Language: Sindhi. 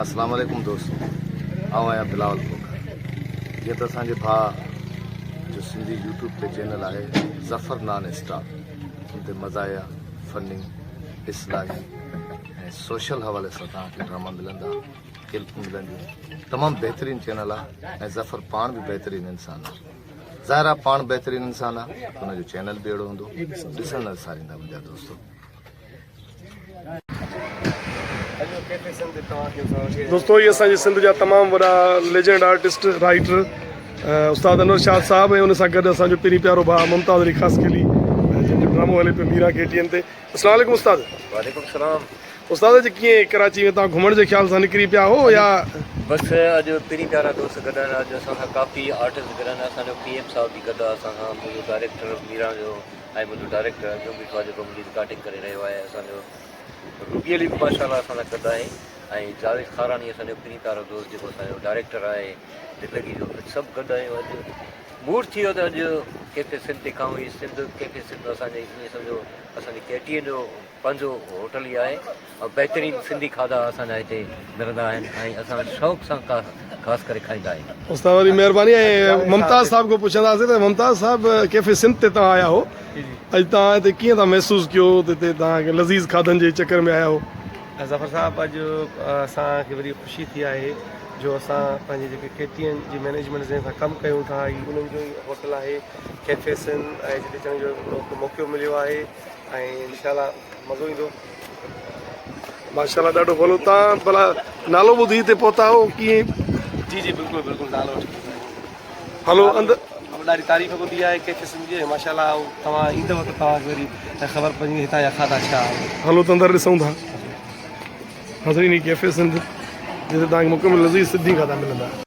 اسلام عليڪم دوستو آئون آهيان بلاول کوکر جيئن ته اسان جي ڀاء جو سنڌي يوٽيوب تي چينل آهي ظفر نان اسٽاپ ان تي مزاحيه فني اصلاحي ۽ سوشل حوالي سان توهان کي ڊراما ملندا ڪلپون ملنديون تمام بهترين چينل آ ۽ ظفر پاڻ به بهترين انسان آ ظاهر آ پاڻ بهترين انسان آ ان جو چينل به اهڙو هوندو ڏسندڙ ساريندا منهنجا دوستو دوستو هي اسان جي سنڌ جا تمام وڏا ليجنڊ آرٽسٽ رائٽر استاد انور شاد صاحب ۽ ان سان گڏ اسان جو پرين پيارو ڀاء ممتاز علي خاص کيلي جن جو ڊرامو هلي پيو ميرا ڪي ٽي اين تي اسلام عليڪم استاد. وعليڪم السلام. استاد اڄ ڪيئن ڪراچي ۾ تان گهمڻ جي خيال سان نڪري پيا هو يا. بس اڄ پرين پيارا دوست گڏ آهن اڄ اسان سان ڪافي آرٽسٽ گڏ آهن اسان جو پي ايم صاحب به گڏ آ اسان سان منهنجو ڊائريڪٽر ميران جو ۽ منهنجو ڊائريڪٽر جو ميٺو آ جيڪو منهنجي رڪارڊنگ ڪري رهيو آهي اسان جو روبي علي به ماشاء الله اسان سان گڏ آهي ۽ جاويد خاراڻي اسان جو پرين پيارو دوست جيڪو اسان جو ڊائريڪٽر آهي زندگي جو اڄ سڀ گڏ آهيون اڄ موڊ ٿي ويو ته اڄ ڪي ڪي سنڌ تکان هئي سنڌ ڪي ڪي سنڌ اسان جي ايئن سمجهو اسان جي ڪي ٽي جو پنهنجو هوٽل ئي آهي ۽ بهترين سنڌي کاڌا اسان جا هتي ملندا آهن ۽ اسان شوق سان خاص ڪري کائيندا آهيون. استاد وڏي مهرباني ۽ ممتاز صاحب کان پڇنداسين ته ممتاز صاحب ڪيفي سنڌ تي توهان آيا هئو اڄ توهان هتي ڪيئن ٿا محسوس ڪيو ته هتي توهان لذيذ کاڌن جي چڪر ۾ آيا هئو. ظفر صاحب اڄ اسان کي وڏي خوشي ٿي آهي. جو اسان پنهنجي جيڪي ڪي ٽي اين جي مئنيجمينٽ جنهن سان ڪم ڪيون ٿا هي انهن جو ئي هوٽل آهي ڪيفي سن ۽ جتي اچڻ جو هڪڙو موقعو مليو آهي ۽ انشاء الله مزو ايندو. ماشاءالله ڏاڍو ڀلو تان ڀلا نالو ٻڌي تي پهتا هو ڪيئن جي جي بلڪل بلڪل نالو وٺي ڀلو اندر ڏاڍي تعريف ٻڌي آهي ڪيفي سن جي ماشاءالله توهان ايندو ته توهان کي وري خبر پوندي هتان جا کاڌا ڇا آهن ڀلو ته اندر ڏسون ٿا ناظرين هي ڪيفي سنڌ جتي توهان کي مڪمل لذيذ سنڌي کاڌا ملندا.